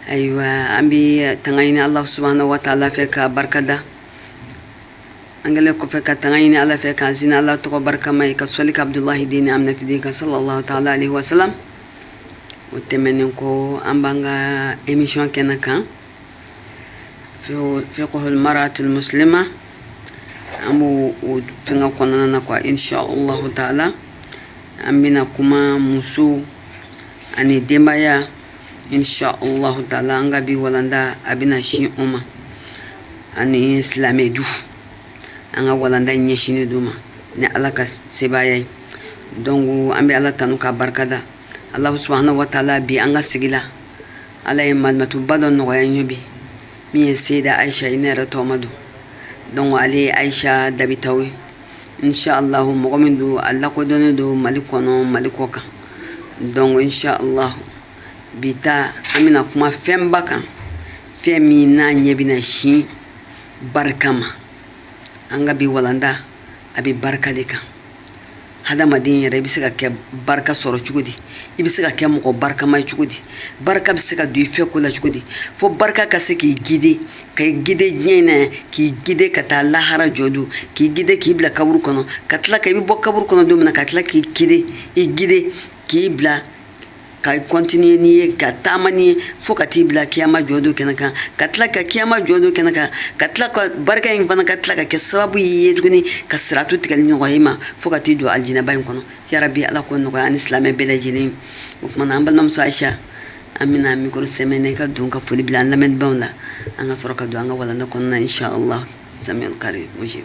ayiwa an bɛ tanga ɲini ala subahana wataala fɛ ka barikada an kɛlen kɔfɛ ka tanga ɲini ala fɛ k'an sin ala tɔgɔ barikama ye ka sɔli kɛ abudulahi den ni aminatu den kan salalahu taala alayihi wasalamu o tɛmɛnen kɔ an b'an ka emisiyɔn kɛnɛ kan fikihu maratu musilima an b'o o tanga kɔnɔna na kwa insha allahu taala an bɛna kuma muso ani denbaya insha allahu taala an ka bi walanda a bɛna sin o ma ani silamɛ du an ka walanda ɲɛsinnen d'o ma ni ala ka sebaaya ye donc an bɛ ala tanu ka barika da alahu subahana wataala bi an ka sigi la ala ye malimatuba dɔ nɔgɔya an ye bi min ye seyida ayisa ye ne yɛrɛ tɔgɔma don donc ale ye ayisa dabitaw ye inchallahu mɔgɔ min don a lakodɔnnen don mali kɔnɔ mali kɔkan donc inchallahu bi ta an bɛna kuma fɛnba kan fɛn min n'a ɲɛ bɛna sin barika ma an ka bi walanda a bɛ barika de kan hadamaden yɛrɛ i bɛ se ka kɛ barika sɔrɔ cogo di i bɛ se ka kɛ mɔgɔ barikama ye cogo di barika bɛ se ka don i fɛ ko la cogo di fo barika ka se k'i gide ka i gide diɲɛ in na yan k'i gide ka taa lahara jɔ don k'i gide k'i bila kaburu kɔnɔ ka tila ka i bɛ bɔ kaburu kɔnɔ don min na ka tila k'i gide i gide k'i bila ka kɔntine n'i ye ka taama n'i ye fo ka t'i bila kiyama jɔ don kɛnɛ kan ka tila ka kiyama jɔ don kɛnɛ kan ka tila ka barika in fana ka tila ka kɛ sababu y'i ye tuguni ka siratu tigɛli nɔgɔya i ma fo ka t'i don alijinaba in kɔnɔ yarabi ala k'o nɔgɔya ani silamɛ bɛɛ lajɛlen o tuma na an balimamuso ayisa an bɛna mikoro sɛmɛnɛ ka don ka foli bila an lamɛnbaaw la an ka sɔrɔ ka don an ka walanda kɔnɔna inshallah samiul karim mujib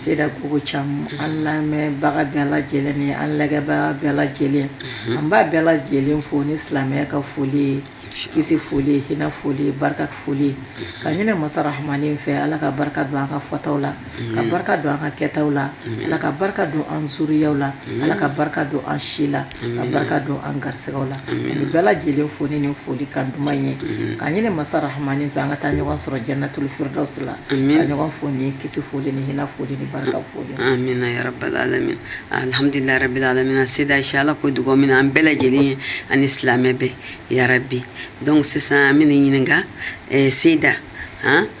Seyida ko ko caman an lamɛnbaga bɛɛ lajɛlen ni an lajɛbaga bɛɛ lajɛlen an b'a bɛɛ lajɛlen fo ni silamɛya ka foli ye kisi foli hina foli barika foli k'a ɲini masa rahamani fɛ ala ka barika don an ka fɔtaw la ka barika don an ka kɛtaw la ala ka barika don an zuriya la ala ka barika don an si la a barika don an garisɛgɛw la bɛɛ lajɛlen fo ni folikan duman ye k'a ɲini masa rahamani fɛ an ka taa ɲɔgɔn sɔrɔ janatu firidawusi la ka ɲɔgɔn fo ni kisi foli ni hina foli ni barika foli amiina yarabi alamina alihamudulilahi rabili alamina seyida insha ala k'o dugaw minɛ an bɛɛ lajɛlen ye ani silamɛ bɛɛ yarabi dɔnku sisan an b'i ɲininka seyida hɔn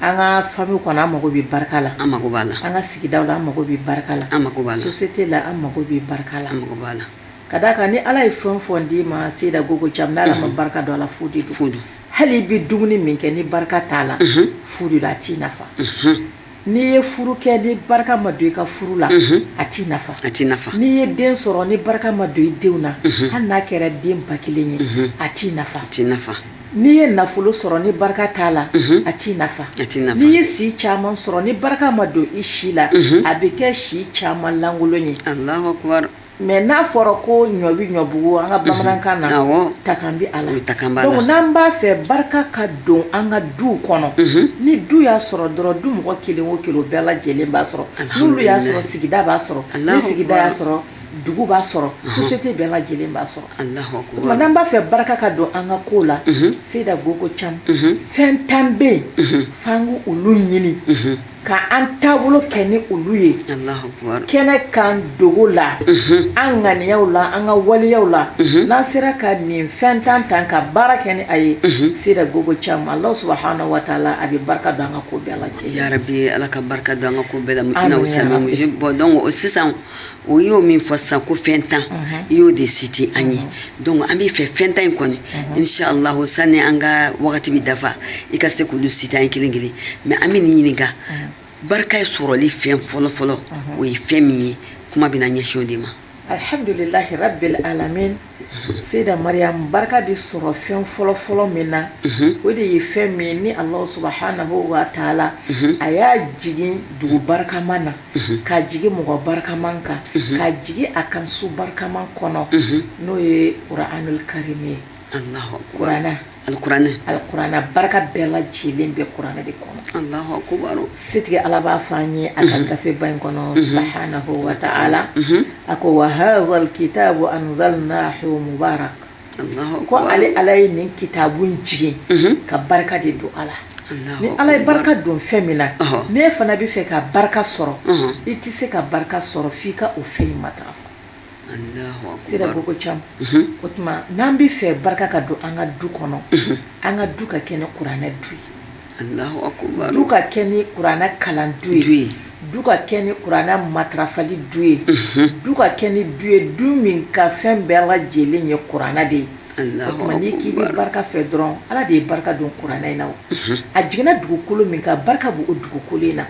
An ka famille kɔnɔ an mako bɛ barika la an mako b'a la an ka sigida la an mako bɛ barika la an mako b'a la société la an mako bɛ barika la an mako b'a la ka d'a kan ni ala ye fɛn o fɛn d'i ma Seyda Gogo Cham n'a ma barika don a la fu de fu hali i bɛ dumuni min kɛ ni barika t'a la fu de a t'i nafa n'i ye furu kɛ ni barika ma don i ka furu la a t'i nafa a tɛ nafa n'i ye den sɔrɔ ni barika ma don i denw na hali n'a kɛra den ba kelen ye a t'i nafa a tɛ nafa N'i ye nafolo sɔrɔ ni barika t'a la a t'i nafa n'i ye si caman sɔrɔ ni barika ma don i si la a bɛ kɛ si caman lankolon ye mɛ n'a fɔra ko ɲɔ bɛ ɲɔbugu an ka bamanankan na takan b'a la n'an b'a fɛ barika ka don an ka du kɔnɔ ni du y'a sɔrɔ dɔrɔn du mɔgɔ kelen o kelen bɛɛ lajɛlen b'a sɔrɔ n'olu y'a sɔrɔ sigida b'a sɔrɔ ni sigida y'a sɔrɔ dugu b'a sɔrɔ société bɛɛ lajɛlen b'a sɔrɔ n'an b'a fɛ barika ka don an ka ko la Seyda Gogo Cham fɛn tan bɛ yen f'an k'olu ɲini ka an taabolo kɛ ni olu ye kɛnɛ kan dogo la an ŋaniyaw la an ka waleyaw la n'an sera ka nin fɛn tan ta ka baara kɛ ni a ye Seyda Gogo Cham ala subahanahu wataala a bɛ barika don an ka ko bɛɛ la ala ka barika don an ka ko bɛɛ la bon donc sisan o y'o min fɔ sisan ko fɛn tan i y'o de citer an ye donc an b'i fɛ fɛn tan in kɔni inshallah sani an ka wagati bɛ dafa i ka se k'olu citer an ye kelen kelen mɛ an bɛ nin ɲininka barika ye sɔrɔli fɛn fɔlɔfɔlɔ o ye fɛn min ye kuma bɛna ɲɛsin o de ma Seyda Mariam barika bɛ sɔrɔ fɛn fɔlɔ fɔlɔ min na o de ye fɛn min ye ni Alahu subahanahu wataala a y'a jigin dugu barikama na ka jigin mɔgɔ barikama kan ka jigin a kan su barikama kɔnɔ n'o ye kuranul kariim ye kuran Alikuranɛ alikuranɛ a barika bɛɛ lajɛlen bɛ kuranɛ de kɔnɔ Alahu akubari setigi Ala b'a fɔ an ye a ka gafe ba in kɔnɔ subahanahu wataala a ko wa haazal kitaabu anzalnaahu mubaarak ko ale Ala ye nin kitaabu in jigin ka barika de don a la ni Ala ye barika don fɛn min na n'e fana bɛ fɛ ka barika sɔrɔ i tɛ se ka barika sɔrɔ f'i ka o fɛn in matarafa. Seyda Gogo Cham o tuma n'an bɛ fɛ barika ka don an ka du kɔnɔ an ka du ka kɛ ni kuranɛ du ye du ka kɛ ni kuranɛ kalan du ye du ka kɛ ni kuranɛ matarafali du ye du ka kɛ ni du ye du min ka fɛn bɛɛ lajɛlen ye kuranɛ de ye k'i bɛ barika fɛ dɔrɔn ala de ye barika don kuranɛ in na a jiginna dugukolo min kan barika b'o dugukolo in na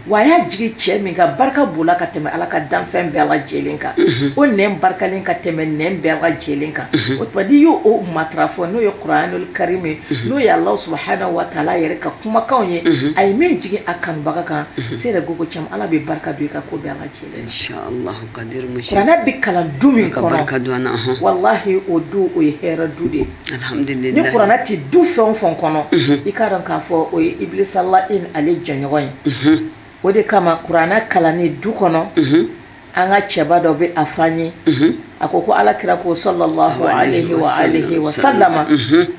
wa a y'a jigin cɛ min kan barika b'o la ka tɛmɛ ala ka danfɛn bɛɛ lajɛlen kan o nɛn barikalen ka tɛmɛ nɛn bɛɛ lajɛlen kan o tuma n'i y'o matarafa n'o ye kuranul karim ye n'o ye ala subhanahu wa ta'ala yɛrɛ ka kumakanw ye a ye min jigin a kanubaga kan seyida gogo cam ala bɛ barika don i ka ko bɛɛ lajɛlen Kuranɛ bɛ kalan du min kɔnɔ walahi o du o ye hɛrɛ du de ye ni kuranɛ tɛ du fɛn o fɛn kɔnɔ i k'a dɔn k'a fɔ o ye Iblisa la'in ale jɛɲɔgɔn ye o de kama kuranɛ kalanni du kɔnɔ an ka cɛba dɔ bɛ a fɔ an ye a ko ko ala kira ko sallallahu alayhi wa alihi wa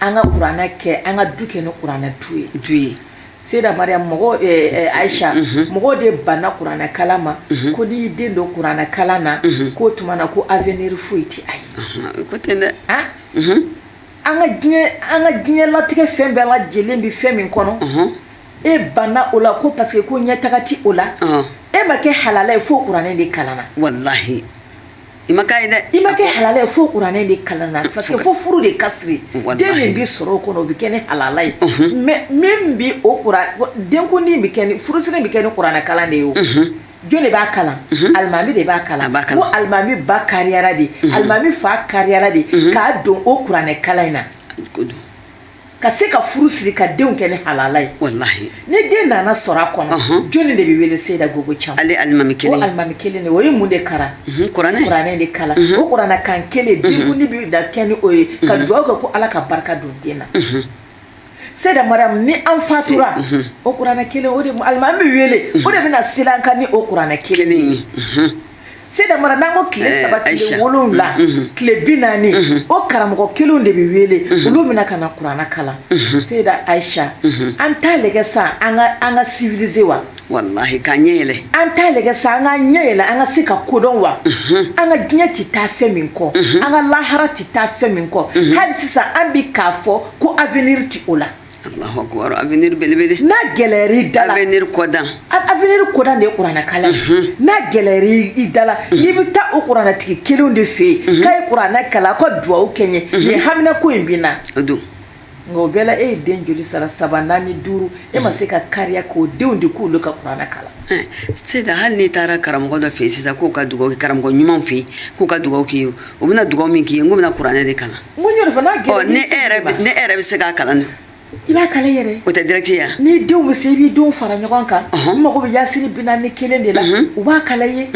an ka kuranɛ kɛ an ka du kɛ ni kuranɛ du ye du ye seyida mariam mɔgɔ ayisa mɔgɔ de banna kuranɛ kalan ma ko n'i y'i den don kuranɛ kalan na k'o tuma na ko avenir foyi tɛ a ye ko ten dɛ an ka diɲɛ latigɛ fɛn bɛɛ lajɛlen bɛ fɛn min kɔnɔ e banna o la ko parce que ko ɲɛtaga ti o la e ma kɛ halala ye fo kuranɛ de kalanna walayi I ma ye dɛ i ma kɛ halala ye fo kuranɛ de kalanna parce que fo furu de ka siri den min bɛ sɔrɔ o kɔnɔ o bɛ kɛ ni halala ye mais min bɛ o denkundi bɛ furusiri bɛ kɛ ni kuranɛkalan de ye o jɔn de b'a kalan alimami de b'a kalan alimami ba kariyara de alimami fa kariyara de k'a don o kuranɛkalan in na ka se ka furu siri ka denw kɛ ni halala ye walahi ni den nana sɔrɔ a kɔnɔ uh-huh. jɔni de bɛ wele seyida gogo cam ale alimami kelen o alimami kelen de o ye mun de kalan uh-huh, kuranɛ kuranɛ de kalan uh-huh. o kuranɛ kan kelen denkundi bɛ da kɛ ni o ye ka dugawu kɛ ko ala ka barika don den na seyida mariam ni an fatura o kuranɛ kelen o de alimami bɛ wele o de bɛna seli an kan ni o kuranɛ kelen ye seyida mariam n'an ko tile eh, saba tile wolonwula mm, mm. tile binaani mm-hmm. o karamɔgɔ kelenw de bɛ wele mm-hmm. olu bɛna ka na kurana kalan mm-hmm. seyida ayisa an t'a lajɛ sa an ka an ka civiliser wa walahi k'a ɲɛ yɛlɛ an t'a lajɛ sa an ka ɲɛ yɛlɛ an ka se ka ko dɔn wa an ka diɲɛ tɛ taa fɛn min kɔ an ka lahara tɛ taa fɛn min kɔ hali sisan an bi k'a fɔ ko avenir tɛ o la Avenir belebele n'a gɛlɛyara i da la avenir kɔdan avenir kɔdan de ye kuranɛkalan ye, unhun, n'a gɛlɛyara i da la i bɛ taa o kuranɛtigi kelenw de fɛ yen k'a ye kuranɛ kalan aw ka dugawu kɛ n ye nin hamina ko in bɛ n na, o don, nka o bɛɛ la e ye den joli sara saba naani duuru e ma se ka kariya k'o denw di k'olu ka kuranɛ kalan Seyida hali n'i taara karamɔgɔ dɔ fɛ yen sisan k'o ka dugawu kɛ karamɔgɔ ɲumanw fɛ yen k'u ka dugawu k'i ye u bɛna dugawu min k'i ye n ko bɛna kuranɛ de kalan n ko n y'o de fɔ n'a gɛlɛyara ni e yɛrɛ ni e yɛrɛ bɛ se k'a kalan i b'a kalan yɛrɛ o tɛ direct ye ni denw bɛ se i b'i denw fara ɲɔgɔn kan n mago bɛ yasini bi naani ni kelen de la u b'a kalan ye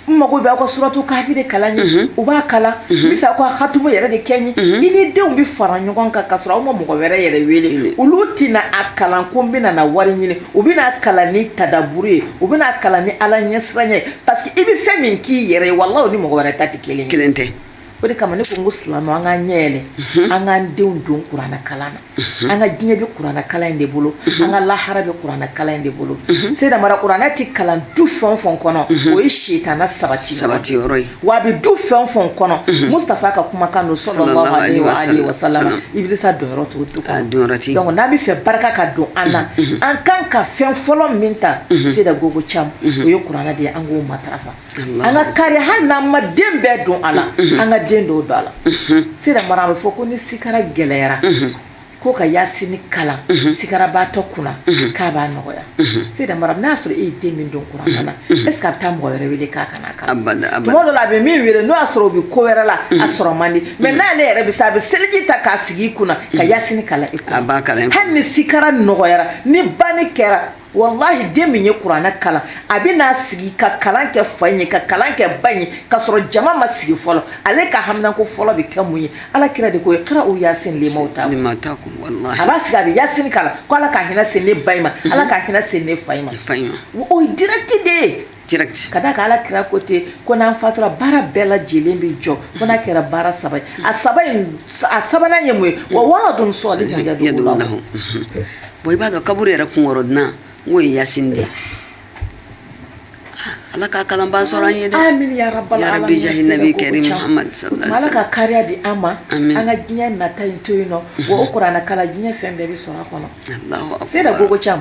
n mago bɛ aw ka suratu kafi de kalan ye u b'a kalan n bɛ fɛ aw ka hatumu yɛrɛ de kɛ n ye i ni denw bɛ fara ɲɔgɔn kan ka sɔrɔ aw ma mɔgɔ wɛrɛ yɛrɛ wele olu tɛna a kalan ko n bɛna na wari ɲini u bɛn'a kalan ni tadaburu ye u bɛn'a kalan ni ala ɲɛsiranya ye parce que i bɛ fɛn min k'i yɛrɛ ye walahi o ni mɔgɔ wɛrɛ ta tɛ kelen ye kelen tɛ o de kama ne ko n ko silamɛw an k'an ɲɛ yɛlɛ mhm. an k'an denw don kuranɛ kalan na mhm. an ka diɲɛ bɛ kuranɛ kalan in de bolo mhm. an ka lahara bɛ kuranɛ kalan in de bolo seyida mara kuranɛ tɛ kalan du fɛn o fɛn kɔnɔ o ye sitana sabati sabati yɔrɔ ye wa a bɛ du fɛn o fɛn kɔnɔ mustafa ka kumakan don sallallahu alaihi wa alihi wa sallam ibilisa donyɔrɔ t'o du kɔnɔ donyɔrɔ tɛ donc n'an bɛ fɛ barika ka don an na an kan ka fɛn fɔlɔ min ta seyida gogo cam o ye kuranɛ de ye an k'o matarafa an ka kari hali n'an ma den bɛɛ don a la an ka den dɔw don a la seyida mara a bɛ fɔ ko ni sikara gɛlɛyara ko ka yasini kalan sikarabaatɔ kunna k'a b'a nɔgɔya seyida mara n'a sɔrɔ e ye den min don kuranɛ na est-ce que a bɛ taa mɔgɔ wɛrɛ wele k'a ka na kalan tuma dɔ la a bɛ min wele n'o y'a sɔrɔ o bɛ ko wɛrɛ la a sɔrɔ man di mais n'ale yɛrɛ bɛ se a bɛ seliji ta k'a sigi i kunna ka yasini kalan i kunna hali ni sikara nɔgɔyara ni banni kɛra walahi den min ye kuranɛ kalan a bɛ n'a sigi ka kalan kɛ fa in ye ka kalan kɛ ba in ye ka sɔrɔ jama ma sigi fɔlɔ ale ka haminako fɔlɔ bɛ kɛ mun ye ala kira de ko iqra'u yasin limawta a b'a sigi a bɛ yasin kalan ko ala ka hinɛ se ne ba in ma mhm. ala ka hinɛ se ne fa in ma o ye direct de ye ka da kan ala kira ko ten ko n'an fatura baara bɛɛ lajɛlen bɛ jɔ fo n'a kɛra baara saba ye a saba a sabanan ye mun ye wa waladun salihin yad'u lahu bon i b'a dɔn kaburu yɛrɛ kunkɔrɔdonnan n'o ye yasini de ye ala k'a kalanbaa sɔrɔ an ye dɛ amin ya rabbal ya rabbi jahi nabi karim muhammad sallallahu alaihi wasallam ala ka kariya di an ma an ka diɲɛ nata in to yen nɔ wa o kuranɛ kalan diɲɛ fɛn bɛɛ bɛ sɔrɔ a kɔnɔ seyida gogo cam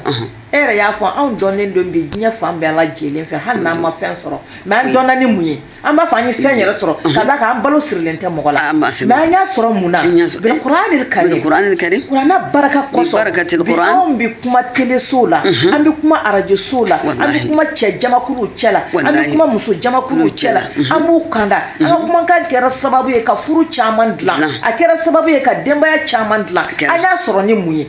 e yɛrɛ y'a fɔ anw dɔnnen don bi diɲɛ fan bɛɛ lajɛlen fɛ hali n'an ma fɛn sɔrɔ mais an dɔnna ni mun ye An b'a fɔ an ye fɛn yɛrɛ sɔrɔ ka da kan an balo sirilen tɛ mɔgɔ la an b'a siri mais an y'a sɔrɔ mun na An y'a sɔrɔ- bil kuranil karim Bil kuranil karim. kuranɛ baraka kosɔn Bi barakatil bi kuran. anw bɛ kuma telesow la an bɛ kuma arajosow la an bɛ Walahi. kuma cɛ jamakuluw cɛ la an bɛ Walahi. kuma muso jamakuluw cɛ la Mhm. an b'u kanda an ka kumakan kɛra sababu ye ka furu caman dilan Dilan. a kɛra sababu ye ka denbaya caman dilan kɛra. an y'a sɔrɔ ni mun ye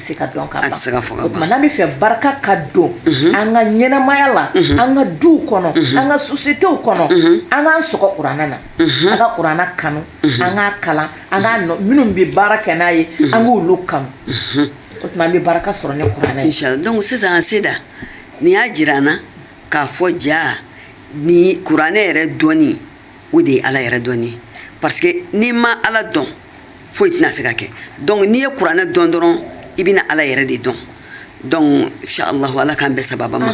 se ka dɔn ka ban o tuma n'an bɛ fɛ barika ka don an ka ɲɛnamaya la an ka duw kɔnɔ an ka sociétéw kɔnɔ an k'an sɔgɔ kuranɛ na an ka kuranɛ kanu an k'a kalan an ka minnu bɛ baara kɛ n'a ye an k'olu kanu o tuma an bɛ barika sɔrɔ ni kuranɛ ye donc sisan an seyida nin y'a jira an na k'a fɔ ja ni kuranɛ yɛrɛ dɔɔnin o de ye ala yɛrɛ dɔnni ye parce que n'i ma ala dɔn foyi tɛna se ka kɛ donc n'i ye kuranɛ dɔn dɔrɔn i bɛna ala yɛrɛ de dɔn donc inchallahu ala k'an bɛɛ sababa ma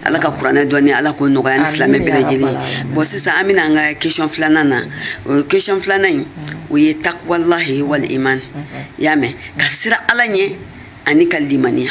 ala ka kuranɛ dɔnni ala k'o nɔgɔya ni silamɛ bɛɛ lajɛlen bon sisan an bɛ na an ka question filanan na o question filanan in o ye takwalahi wal iman y'a mɛn ka siran ala ɲɛ ani ka limaniya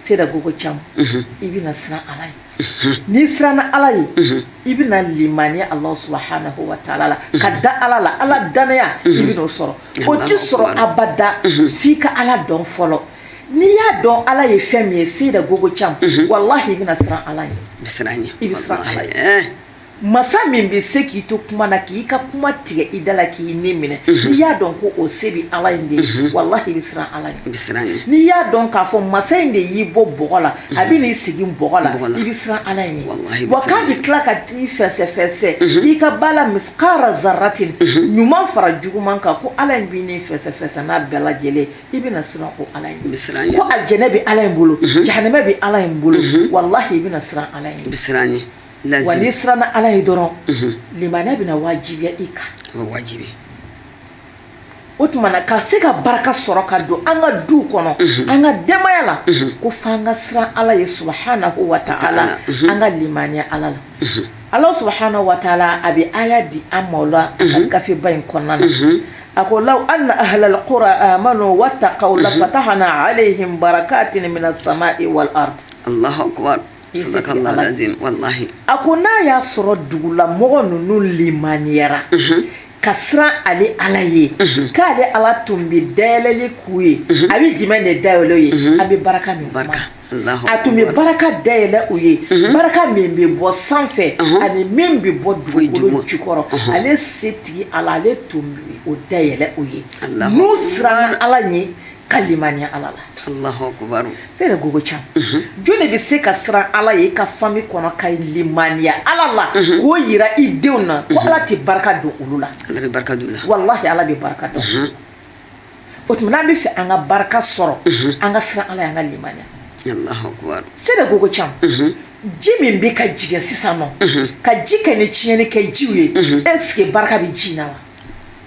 seyida gogo cam i bɛna siran ala ye n'i siranna ala ye i bɛna limaniya ala subahana wa taala la ka da ala la ala dannaya i bɛna o sɔrɔ o tɛ sɔrɔ abada f'i ka ala dɔn fɔlɔ n'i y'a dɔn ala ye fɛn min ye seyida gogo cam walahi i bɛna siran ala ye i bɛ siran ala ye Masa min bɛ se k'i to kuma na k'i ka kuma tigɛ i da la k'i ni minɛ n'i y'a dɔn ko o se bɛ ala in de ye walahi i bɛ siran ala ye n'i y'a dɔn k'a fɔ masa in de y'i bɔ bɔgɔ la a bɛ n'i segin bɔgɔ la i bɛ siran ala in ye wa k'a bɛ tila ka t'i fɛsɛfɛsɛ i ka baara misikala zaratin ɲuman fara juguman kan ko ala in bɛ n'i fɛsɛfɛsɛ n'a bɛɛ lajɛlen i bɛna siran o ala ye ko alijɛnɛ bɛ ala in bolo jahanama bɛ ala in bolo walahi i bɛna siran ala in ye wa n'i siranna ala ye dɔrɔn limaniya bɛna wajibiya i kan o tuma na ka se ka barika sɔrɔ ka don an ka du kɔnɔ an ka denbaya la ko fo an ka siran ala ye subahanahu wa taala an ka limaniya ala la ala subahana wataala a bɛ aya di an ma o la a ka gafeba in kɔnɔna na a ko law anna ahalal kura amanu watakaw la fatahana alehim barakatin mina samai wal ardi A ko n'a y'a sɔrɔ dugula mɔgɔ ninnu limaniyara ka siran ale ala ye k'ale ala tun bɛ dayɛlɛli k'u ye a bɛ jumɛn de dayɛlɛ u ye a bɛ barika min barika a tun bɛ barika dayɛlɛn u ye barika min bɛ bɔ sanfɛ ani min bɛ bɔ dugukolo jukɔrɔ ale setigi ala ale tun bɛ o dayɛlɛn u ye n'u siranna ala ɲɛ ka limaniya ala la Alahu akibaru seyida gogo cam jɔni bɛ se ka siran ala ye i ka famille kɔnɔ ka limaniya ala la k'o yira i denw na ko ala tɛ barika don olu la Ala bɛ barika don u la walahi ala bɛ barika don o tuma n'an b'a fɛ an ka barika sɔrɔ an ka siran ala y'an ka limaniya Alahu akibaru seyida gogo cam ji min bɛ ka jigin sisan n'o ka ji kɛlen tiɲɛni kɛ jiw ye est ce que barika bɛ ji in na wa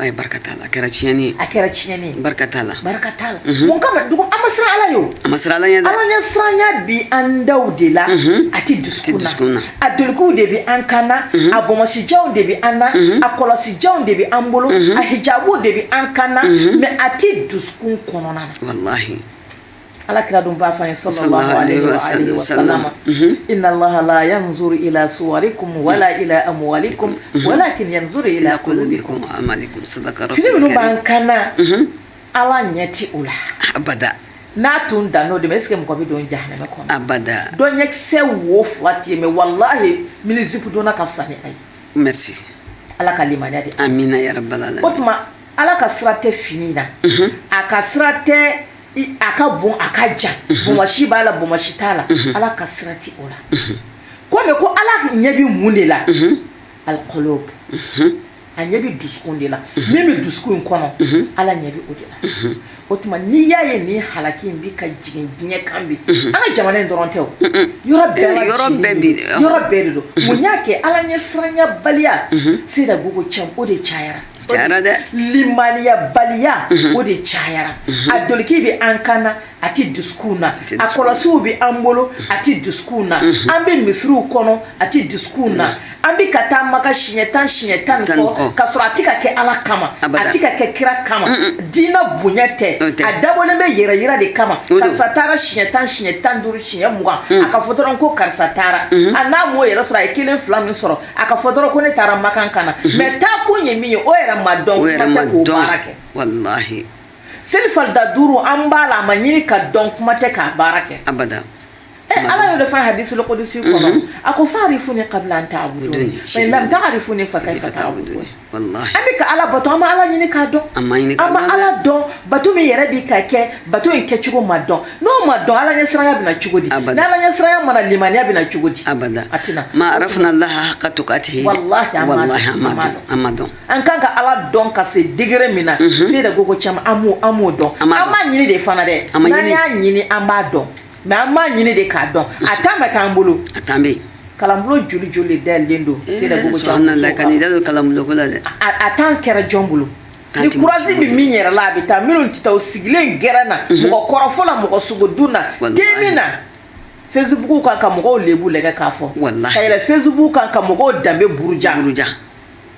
Ayi barika t'a la a kɛra tiɲɛni a kɛra tiɲɛni barika t'a la barika t'a la mun kama dugu an ma siran ala ye an ma siran ala ɲɛ ala ɲɛ siranya bɛ an da de la a tɛ dusukun na a dulokiw de bɛ an kan na a bonbonsijanw de bɛ an na a kɔlɔsijanw de bɛ an bolo a hijabuw de bɛ an kan na mais a tɛ dusukun kɔnɔna na Ala kira dun ba fɔ ye so sa i lahala y'a muso i la su kun wala i a kun wala kso i la kolon bɛ minnu b'an kan ala ɲɛ tɛ o la abada n'a tun dan n'o de bɛ e sigi mɔgɔ bɛ don ja kɔnɔ abada dɔnkisɛ wo fila tɛ mɛ walayi mini zip donna ka fisa ni ayi mɛ ala ka limaya de an min yɛrɛ bala la o tuma ala ka sira tɛ fini na a ka sira tɛ a ka bon a ka jan bomasi b'a la bomasi t'a la ala ka sira tɛ o la kɔmi ko ala ɲɛ bɛ mun de la alikulubu a ɲɛ bɛ dusukun de la min bɛ dusukun in kɔnɔ ala ɲɛ bɛ o de la o tuma n'i y'a ye nin halaki in bɛ ka jigin diɲɛ kan bi an ka jamana in dɔrɔn tɛ o yɔrɔ bɛɛ de don mun y'a kɛ ala ɲɛ siranyabaliya seyida gogo cam o de cayara Jara dɛ limaniya baliya o de cayara a doloki bɛ an kan na a tɛ dusukun na a kɔlɔsiw bɛ an bolo a tɛ dusukun na an bɛ misiriw kɔnɔ a tɛ dusukun na an bɛ ka taa maka siɲɛ tan siɲɛ tan tan ka sɔrɔ a tɛ ka kɛ ala kama a tɛ ka kɛ kira kama diinɛ bonya tɛ a dabɔlen bɛ yɛrɛ yira de kama karisa taara siɲɛ tan siɲɛ tan duuru siɲɛ mugan a ka fɔ dɔrɔn ko karisa taara a n'a m'o yɛrɛ sɔrɔ a ye kelen fila min sɔrɔ a ka fɔ dɔrɔn ko ne taara makan ka na mɛ taa kun ye min ye o yɛrɛ ma dɔn kuma tɛ k'o baara kɛ walahi seli falida duuru an b'a la a ma ɲini ka dɔn kuma tɛ k'a baara kɛ abada Eh, ala y'o de fɔ hadisul kudusi kɔnɔ a ko fa'rifuni kabila an ta'buduni fa in lam ta'rifuni fa kaifa ta'budu an bɛ ka ala bato an ma ala ɲini k'a dɔn an ma ala dɔn bato min yɛrɛ bɛ ka kɛ bato in kɛ cogo ma dɔn n'o ma dɔn ala ɲɛ siranya bɛ na cogo di ni ala ɲɛ siranya ma na limaniya bɛ na cogo di ma arafna Allah haqqa tuqatihi an m'a dɔn an kan ka ala dɔn ka se digɛrɛ min na seyida gogo caman an m'o dɔn an m'a ɲini de fana dɛ n'an y'a ɲini an b'a dɔn mɛ an m'a ɲini de k'a dɔn a tan ma k'an bolo a tan bɛ kalanbolo joli joli dayɛlɛlen don eh, seyida kan'i da don kalanboloko la dɛ a tan kɛra jɔn bolo ni kurazi bɛ min yɛrɛ la a bɛ taa minnu tɛ taa o sigilen gɛrɛn na mhm. mɔgɔ kɔrɔfɔ la mɔgɔ sogo dun na den min na fesibuku kan ka mɔgɔw lebu lajɛ k'a fɔ ka yɛlɛ fesibuku kan ka mɔgɔw danbe buruja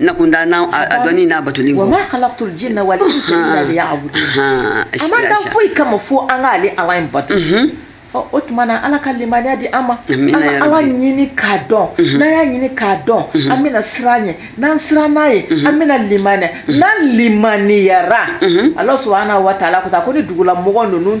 na kun da na a dɔnni n'a batoli wa ma khalaqtul jinna wal insa illa liya'budun a m'an dan foyi kama fo an ka ale ala in bato o tuma na ala ka limaniya di an ma an ka ala ɲini k'a dɔn n'an y'a ɲini k'a dɔn an bɛna siran a ɲɛ n'an siranna a ɲɛ an bɛna limaniya n'an limaniyara ala subhanahu wa ta'ala ko taa ko ni dugula mɔgɔ ninnu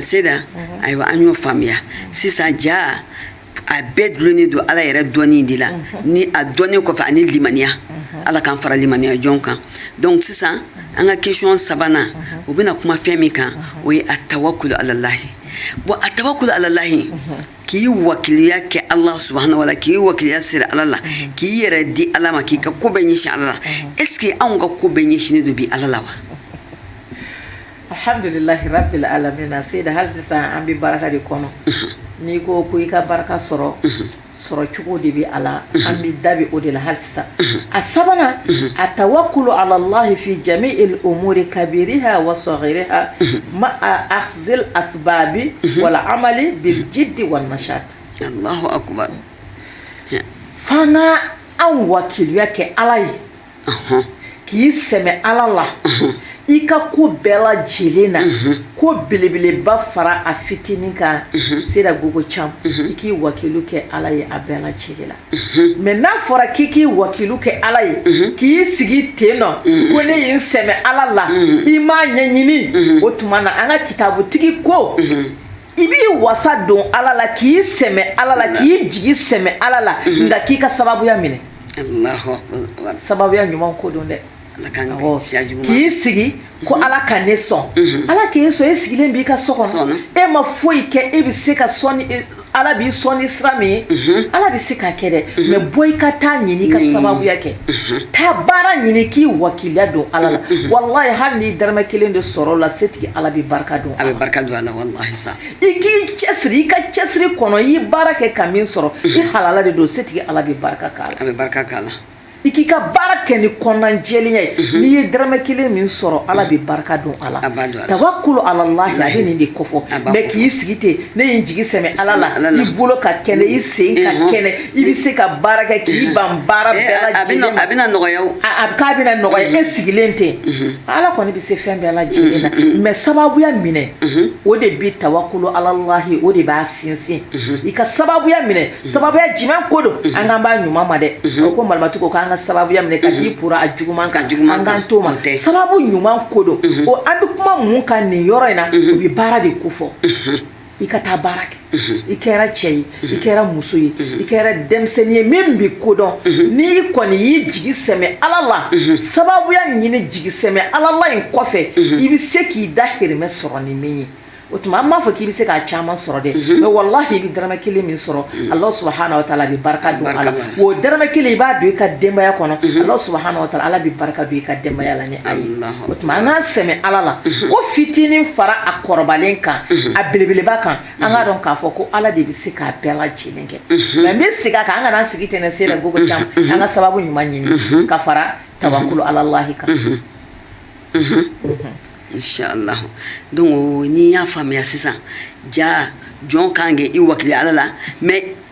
seda ayiwa an y'o faamuya sisan ja a bɛɛ dulonnen don ala yɛrɛ dɔnni de la ni a dɔnni kɔfɛ ani limaniya ala k'an fara limaniya jɔn kan donc sisan an ka question sabanan o bɛna kuma fɛn min kan o ye a tawakulu alalahi bon a tawakulu alalahi k'i wakiliya kɛ ala subahana wa taala k'i wakiliya siri ala la k'i yɛrɛ di ala ma k'i ka ko bɛɛ ɲɛsin ala la est ce que anw ka ko bɛɛ ɲɛsinnen don bi ala la wa Alhamdulilahi rabili alamina seyida hali sisan an bɛ barika de kɔnɔ n'i ko ko i ka barika sɔrɔ sɔrɔ cogo de bɛ a la an bɛ da bɛ o de la hali sisan a sabanan a tawakulu alalahi fi jami'il umuri kabiriha wa sagiriha ma akizil asbabi wal amali bi jidi wal nashat fana an wakiliya kɛ ala ye k'i sɛmɛ ala la i ka ko bɛɛ lajɛlen na ko belebeleba fara a fitinin kan seda gogo cam i k'i wakilu kɛ ala ye a bɛɛ lajɛlen la mais n'a fɔra k'i k'i wakilu kɛ ala ye k'i sigi ten nɔ ko ne ye n sɛmɛ ala la i m'a ɲɛɲini o tuma na an ka kitabutigi ko i b'i wasa don ala la k'i sɛmɛ ala la k'i jigi sɛmɛ ala la mhm. nka k'i ka sababuya minɛ sababuya ɲuman ko don dɛ k'i sigi ko mhm. ala ka ne sɔn mhm. ala k'e sɔn e sigilen b'i ka so kɔnɔ e ma foyi kɛ e bɛ se ka sɔn e, ala b'i sɔn ni sira min ye ala bɛ se k'a kɛ dɛ mais bɔ i ka taa ɲini i ka sababuya kɛ taa baara ɲini k'i wakiliya don ala la walayi hali n'i daramɛ kelen de sɔrɔ o la setigi ala bɛ barika don a bɛ barika don a la walahi sa i k'i cɛsiri i ka cɛsiri kɔnɔ i ye baara kɛ ka min sɔrɔ i halala de don setigi ala bɛ barika k'a la a bɛ barika k'a la i k'i ka baara kɛ ni kɔnɔna jɛlenya ye n'i ye dɔrɔmɛ kelen min sɔrɔ ala bɛ barika don a la tawakulu alalahi a bɛ nin de kofɔ mais k'i sigi ten ne ye n jigi sɛmɛ ala la i bolo ka kɛnɛ i sen ka kɛnɛ i bɛ se ka baara kɛ k'i ban baara eh, bɛɛ lajɛlen ma a bɛna nɔgɔya o a k'a bɛna nɔgɔya e mm-hmm. sigilen ten mm-hmm. ala kɔni bɛ se fɛn bɛɛ lajɛlen na mm-hmm. mais sababuya minɛ o de bɛ tawakulu alalahi o de b'a sinsin i ka sababuya minɛ sababuya jumɛn ko don an kan b'a ɲuman ma dɛ o ko malimatu ko k'an ka sababuya minɛ ka t'i pura a juguman kan an kan t'o ma sababu ɲuman ko don o an bɛ kuma mun kan nin yɔrɔ in na o bɛ baara de kofɔ i ka taa baara kɛ i kɛra cɛ ye i kɛra muso ye i kɛra denmisɛnnin ye min bɛ ko dɔn n'i kɔni y'i jigi sɛmɛ ala la sababuya ɲini jigi sɛmɛ ala la in kɔfɛ i bɛ se k'i dahirimɛ sɔrɔ ni min ye o tuma an m'a fɔ k'i bɛ se k'a caman sɔrɔ dɛ mais walayi i bɛ daramɛ kelen min sɔrɔ ala subahana wa taala bɛ barika don a la o daramɛ kelen i b'a don i ka denbaya kɔnɔ ala subahana wa taala bɛ barika don i ka denbaya la o tuma an k'an sɛmɛ ala la ko fitinin fara a kɔrɔbalen kan a belebeleba kan an k'a dɔn k'a fɔ ko ala de bɛ se k'a bɛɛ lajɛlen kɛ mais n bɛ segin a kan an kana sigi ten Seyida Gogo an ka sababu ɲuman ɲini ka fara tawakulu alallahi kan donc n'i y'a faamuya sisan ja jɔn ka kan k'i wakili ala la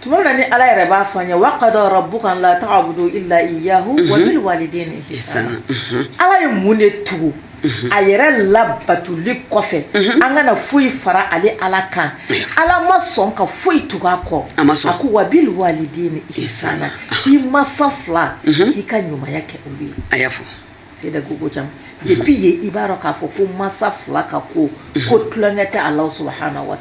tuma na ni ala yɛrɛ b'a fɔ an ye wa qada rabbuka la ta'budu illa iyyahu wa bil walidayni ihsana ala ye mun de tugu a yɛrɛ labatuli kɔfɛ an kana foyi fara ale ala kan ala ma sɔn ka foyi tugu a kɔ a ko wa bil walidayni ihsana k'i masa fila k'i ka ɲumanya kɛ olu ye a y'a fɔ Seyida Gogo Thiam depuis ye i b'a dɔn k'a fɔ ko masa fila ka ko ko tulonkɛ tɛ ala subhanahu wa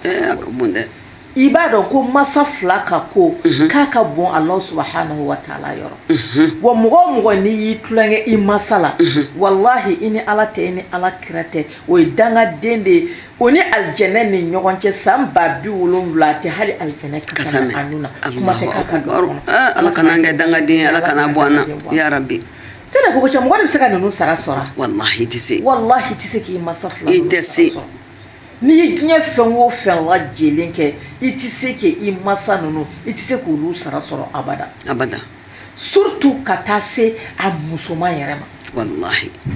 i b'a dɔn ko masa fila ka ko mhm. k'a ka bon ala subhanahu wa taala yɔrɔ mhm. wa mɔgɔ o mɔgɔ n'i y'i tulonkɛ i masa la mhm. walahi i ni ala tɛ i ni ala kira tɛ o ye dangaden de ye o ni alijɛnɛ ni ɲɔgɔn cɛ san ba biwolonwula a tɛ hali alijɛnɛ kasa na a nun na kuma tɛ k'a ka don ah, ala kana an kɛ dangaden ala kan'a bɔ an na yarabi Seyida Gogo Thiam mɔgɔ de bɛ se ka ninnu sara sɔrɔ walahi i tɛ se walahi i tɛ se k'i masa fila i tɛ se N'i ye diɲɛ fɛn o fɛn lajɛlen kɛ i tɛ se k' i masa ninnu i tɛ se k'olu sara sɔrɔ abada abada surtout ka taa se a musoman yɛrɛ ma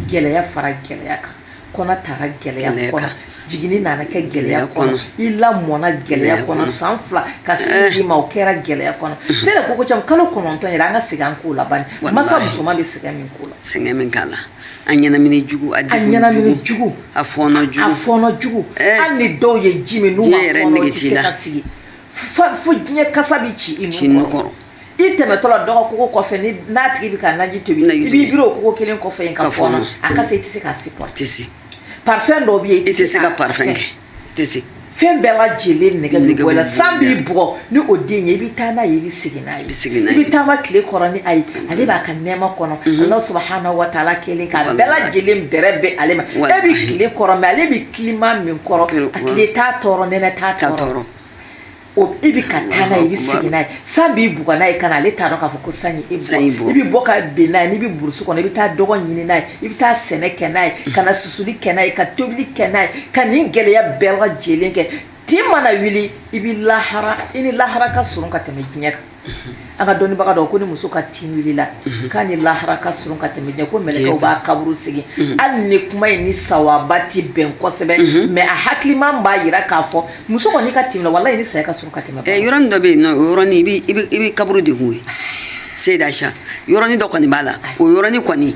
gɛlɛya fara gɛlɛya kan kɔnɔ taara gɛlɛya kɔnɔ jigin nana kɛ gɛlɛya kɔnɔ i lamɔna gɛlɛya kɔnɔ san fila ka i ma o kɛra gɛlɛya kɔnɔ Seyida Gogo Thiam kalo kɔnɔntɔn yɛrɛ an ka segin an kɔ la bani masa musoman bɛ sɛgɛn min k'a la sɛgɛn min k'a la A ɲɛnamini jugu a a ɲɛnamini jugu a fɔɔnɔ jugu a fɔɔnɔ jugu ɛɛ hali ni dɔw ye ji min n'u ma fɔɔnɔ diɲɛ yɛrɛ nege t'i la u ti se ka sigi fa fo diɲɛ kasa bi ci i nun kɔrɔ ci nun kɔrɔ i tɛmɛtɔ la dɔ ka kogo kɔfɛ ni n'a tigi bi ka naji tobi naji tobi i b'i biri o kogo 1 kɔfɛ yen ka fɔɔnɔ ka fɔɔnɔ a kasa i ti se k'a supporter a ti se parfum dɔw be yen i ti se ka parfum kɛ tɛ fɛn bɛɛ lajɛlen nege bɛ bɔ i la san b'i bugɔ ni o den ye i bɛ taa n'a ye i bɛ segin n'a ye i bɛ taama tile kɔrɔ ni a ye ale b'a ka nɛɛma kɔnɔ ala subhanahu wa taala kelen k'a bɛɛ lajɛlen bɛrɛ bɛ ale ma e bɛ tile kɔrɔ mais ale bɛ climat min kɔrɔ a tile t'a tɔɔrɔ nɛnɛ t'a tɔɔrɔ o e bɛ ka taa n'a ye i bɛ segin n'a ye san b'i bugɔ n'a ye ka na ale t'a dɔn k'a fɔ ko san ye e san y'i bugɔ i bɛ bɔ ka bin n'a ye n'i bɛ burusi kɔnɔ i bɛ taa dɔgɔ ɲini n'a ye i bɛ taa sɛnɛ kɛ n'a ye ka na susuli kɛ n'a ye ka tobili kɛ n'a ye ka nin gɛlɛya bɛɛ lajɛlen kɛ tin mana wuli i bɛ lahara i ni lahara ka surun ka tɛmɛ diɲɛ kan An ka dɔnnibaga dɔ ko ni muso ka tin wulila k'a ni lahara ka surun ka tɛmɛ diɲɛ ko mɛlɛkɛw b'a kaburu segin hali ni kuma in ni sawaba tɛ bɛn kosɛbɛ mais a hakiliman b'a jira k'a fɔ muso kɔni ka tin wulila walahi i ni saya ka surun ka tɛmɛ bɛɛ yɔrɔnin dɔ bɛ yen nɔ o yɔrɔnin i bɛ kaburu de kun koyi Seyida Aicha yɔrɔnin dɔ kɔni b'a la o yɔrɔnin kɔni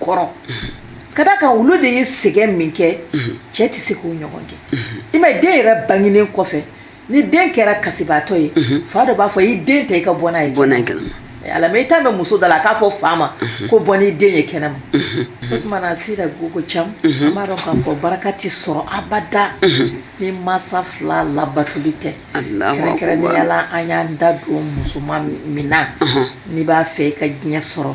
kɔrɔ ka da kan olu de ye sɛgɛn min kɛ cɛ tɛ se k'o ɲɔgɔn kɛ i ma den yɛrɛ bangenen kɔfɛ ni den kɛra kasibaatɔ ye fa dɔ b'a fɔ i den ta i ka bɔ n'a ye kɛnɛma eh, ala i t'a mɛn muso da la k'a fɔ fa ma ko bɔ n'i den ye kɛnɛma o tuma na Seyda Gogo Cam an b'a dɔn k'a fɔ baraka tɛ sɔrɔ abada ni masa fila labatuli tɛ Kɛrɛnkɛrɛnnenya la an y'an da don musoman min na n'i b'a fɛ i ka diɲɛ sɔrɔ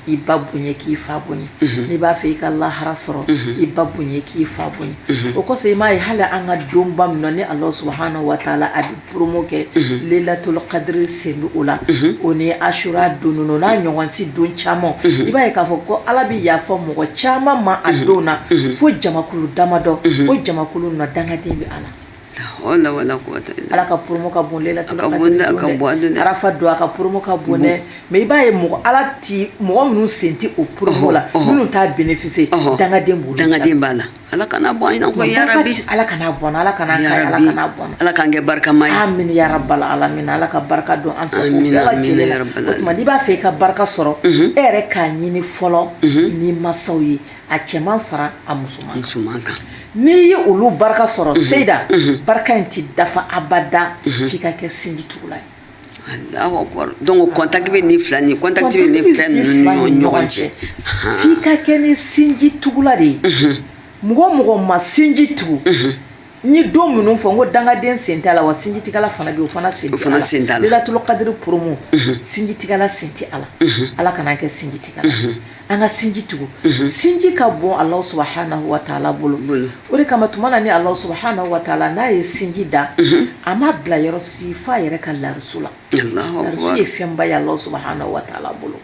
i ba bonya k'i fa bonya n'i b'a fɛ i ka lahara sɔrɔ i ba bonya k'i fa bonya o kɔsɔn i m'a ye hali an ka donba min na ni ala subhanahu wa ta'ala a bɛ promo kɛ lailatul kadiri sen bɛ o la o ni Asura don n'a ɲɔgɔnsi don caman i b'a ye k'a fɔ ko ala bɛ yafa mɔgɔ caman ma a don na fo jamakulu damadɔ o jamakulu na dangaden bɛ a la ala ka promo ka bon lailatul kadiri Arafa don a ka promo ka bon dɛ mais i b'a ye mɔgɔ ala tɛ mɔgɔ minnu sen tɛ o promo la minnu t'a bénéficier dangaden dangaden b'a la ala kana bɔ ala ala ala k'an kɛ barikama ye ala ala ka barika don an fɛ o tuma n'i b'a fɛ i ka barika sɔrɔ e yɛrɛ k'a ɲini fɔlɔ ni masaw ye a cɛman fara a musoman kan, n'i ye olu barika sɔrɔ Seyda barika in tɛ dafa abada f'i ka kɛ sinji tugula ye Alahu akibaru donc contact bɛ nin fila ni contact bɛ nin fila ninnu ni ɲɔgɔn cɛ f'i ka kɛ ni sinji tugula de ye mɔgɔ o mɔgɔ ma sinji tugu N ye don minnu fɔ n ko dangaden sen t'a la wa sinjitigɛla fana bɛ yen o fana sen t'a la, lailatul kadiri promo sinjitigɛla sen tɛ a la, unhun, Ala kana an kɛ sinjitigɛla ye, unhun, an ka sinji tugu, unhun, sinji ka bon Allahou Soubhana wa ta Ala bolo, o de kama tuma na ni Allahou Soubhana wa ta Ala n'a ye sinji da, unhun, a m'a bila yɔrɔ si f'a yɛrɛ ka larusu la. ye fɛnba ye Alahu subahana watala bolo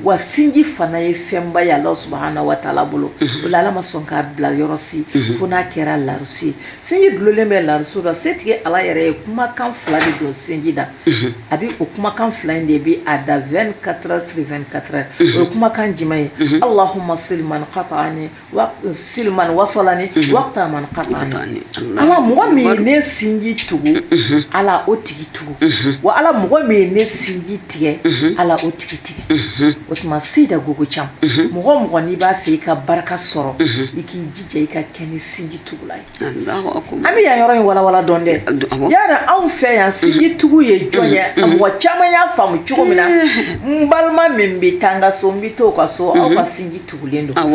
wa sinji fana ye fɛnba ye Alahu subahana watala bolo o la Ala ma sɔn k'a bila yɔrɔ si fo n'a kɛra larusi ye sinji dulonlen bɛ larusi la setigi Ala yɛrɛ ye kumakan fila de don sinji da a bɛ o kumakan fila in de bɛ a da 24 heures sur 24 heures o ye kumakan jumɛn ye Allahuma sil man kataani sil man wasalani wakta man kataani ala mɔgɔ min ye ne sinji tugu ala o tigi tugu wa ala mɔgɔ min ye ne sinji tigɛ ala o tigi tigɛ o tuma Seyda Gogo Cam mɔgɔ o mɔgɔ n'i b'a fɛ i ka barika sɔrɔ i k'i jija i ka kɛ ni sinji tugula ye an bɛ yan yɔrɔ in walawala dɔɔnin dɛ yala anw fɛ yan sinji tugu ye jɔn ye a mɔgɔ caman y'a faamu cogo min na n balima min bɛ taa n ka so n bɛ t'o ka so aw ka sinji tugulen don